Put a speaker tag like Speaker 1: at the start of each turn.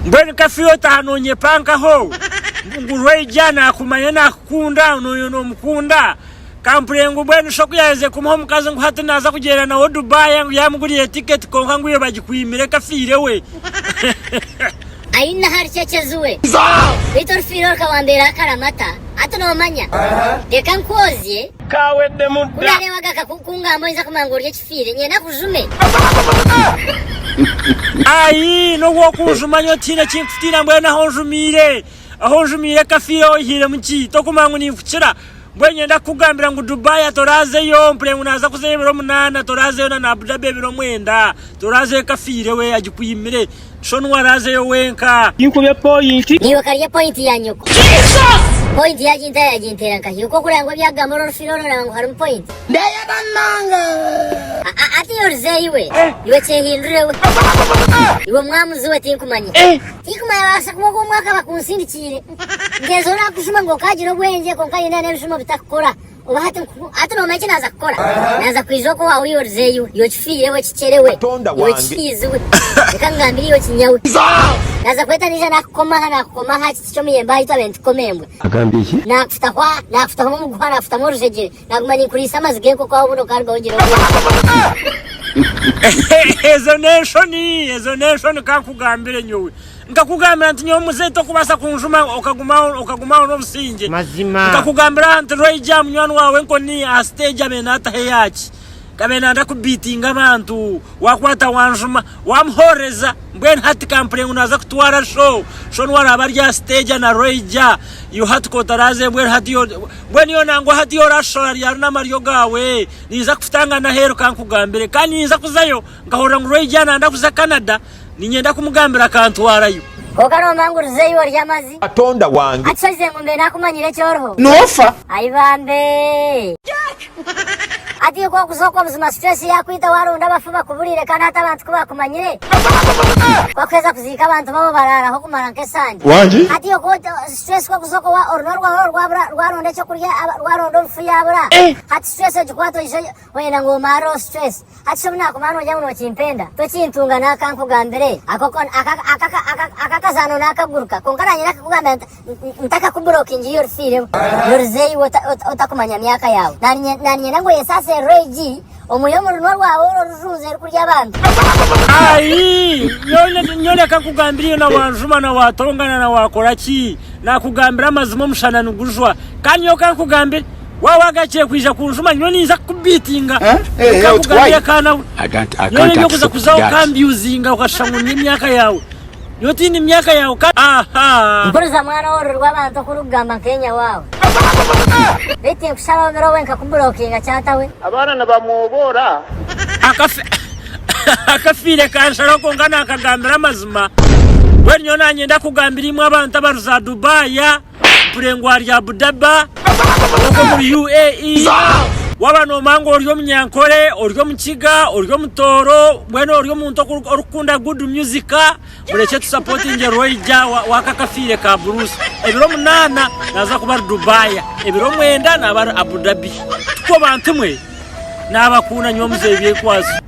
Speaker 1: Mbwenu ka fire otaha nonyepankaho ngu rwaija nakumanya nakukunda noyenda omukunda kampure ngu mbwenu shi okuyaherize kumuha omukazi ngu hati naza kugyenda nawe Dubai ngu yamugurire ticket kwonka ngu iwe bagikwimire ka fire we. Aine
Speaker 2: ahari cecezi we. Beitu orufire oruka wambeera akaramata hati nomanya. Reka nkwozye. Ka weddemu dda.
Speaker 1: Ku nareeba gaka kukungamba
Speaker 2: oyinza kumanya ngu orya ekifo. Tihaine
Speaker 1: nyena bujume. Aii nobu okunjuma nyowe tihaine ekinkutiina mbwenu ahu onjumiire ahu onjumiire kafiire oihiiremu ki? Tokumanya ngu ninkukira mbwenu nyenda kukugambira ngu Dubai toraazeyo mpurire ngu naaza kuzayo ebiro munaana toraazeyo na Abu Dhabi ebiro mwenda toraazeyo kafiire we agikuimire Shon warazeyo wenka. Tinkubye point. Naiwe karye point ya
Speaker 2: nyoko. Point yaginta yagintera nkahi okwo kureba ngu ebyagamba ori orufire ori oreba ngu harimu point. Ndeyenda munonga. Aa hatiya orize iwe. Iwe kyehindure we. Iwe mwamuzi we tinkumanya. Tinkumanya babasa kuba ogu omwaka bakunsindikiire. Ngezo orakushuma ngu okagira obwengye kwonka haine n'ebijuma obitakukora. Oba hati nkufu, hati nomanya eki naaza kukora? Naaza kwija oku owaawe oyorizeyo, iwe kifiire iwe kikyere we, iwe kifiizi we, reka nkugambire iwe kinya we. Naaza kweta naija naakukoma aha, naakukoma aha kiti ky'omuyembe aha itwe abe nitukoma embwa. Agambye ki? Naakufutaho
Speaker 1: aha, naakufutaho
Speaker 2: omu muguha, naakufutamu orujegyere, naaguma ninkuriisa amazi g'enkoko aho obundi okaarugaho ogira obwoba.
Speaker 1: Ezo n'enshoni, ezo n'enshoni ka nkugambire nyowe. Nkakugambira nti, Nyowe muzeeyi tokubaasa kunjuma, okaguma aho, okaguma aho n'obusingye. Mazima. Nkakugambira
Speaker 3: aha nti, Rwaija
Speaker 1: aha munywani waawe enkoni aha siteegi abe naataho eyaaki, abe naanda kubiitinga abantu, waakwata wanjuma, waamuhoorereza, mbwenu hati ka mpurire ngu naaza kutwara sho, sho niwe araabe ari aha siteegi ana Rwaija, iwe hati ka otaraaze, mbwenu hati yo, mbwenu yo nangwa hati yo oraashishora ryari n'amaryo gaawe? Niinza kufutangana aheeru ka nkugambire. Kandi niinza kuzayo, nkahurira ngu Rwaija naanda kuza Canada, Ninyenda kumugambira akantwarayo. Kwonka nombangurizeyo
Speaker 2: ori amazi. Katonda wange.
Speaker 4: Akishozize ngu mbe nakumanyire
Speaker 2: eki oriho. Nofa. Ayi
Speaker 4: bambe.
Speaker 2: Hati iwe kwokuza okwo buzima situation yakwita waronda abafu bakuburire kandi hati abantu kubakumanyire. Kwokuheza kuziika abantu babo bararaho kumara nka esande. Wangi. Hati iwe stress kwokuza okwo wa orunwa rwawe orwo rwabura rwaronda ekyokurya rwaronda obufu yabura. Hati stress ogikwata oije Wayenda ngu omareho stress hati shobi naguma nongya ngu nokimpenda tokintunga naka nkugambire akakazano nakaguruka kwonka nanye nakakugambira ntakakuburokingiye orifiiremu noriza iwe otakumanya myaka yaawe nanye ninyenda ngu oyensase reg omuhe omurunwa rwawe ori orijunza erikurya abantu
Speaker 1: Aii nyowe reka nkugambire iyo nawanjuma nawatongana nawakoraki nakugambira amazima omushana nigujwa kandi nyowe kankugambire Waaba wagarukiire kwija kunjuma nyowe ninza kukubiitinga nkakugarurire ka nawe. Nyowe n'ebi okuza kuzaho okambyuzinga okashusha ngu ndi emyaka yaawe. Nyowe tindi myaka yaawe ka ahaa. Mpuriza mwana w'oruri
Speaker 2: rw'abantu oku orikugamba nk'enyawaawe. Beitu tinkushaba obiro obwe nkakuburokinga kyatawe. Abaana nibamwoboora.
Speaker 1: Akafiire kansharaho kwonka naakagambira amazima. Mbwenu nyowe naanye ndakugambira imwe abantu abari za Dubai. mpure ngu ari Abu Daba ogu omuri UAE waba nomanya ngu ori omunyankore ori omukiga ori omutooro mbwenu ori omuntu orikukunda good music murekye tusapotingye Roija waka akafiire ka Bruce ebiro munaana naza kuba ari Dubai ebiro mwenda naba ari Abu Dhabi tuko bantu mwe nabakunda nyowe muzeeyi byekwazo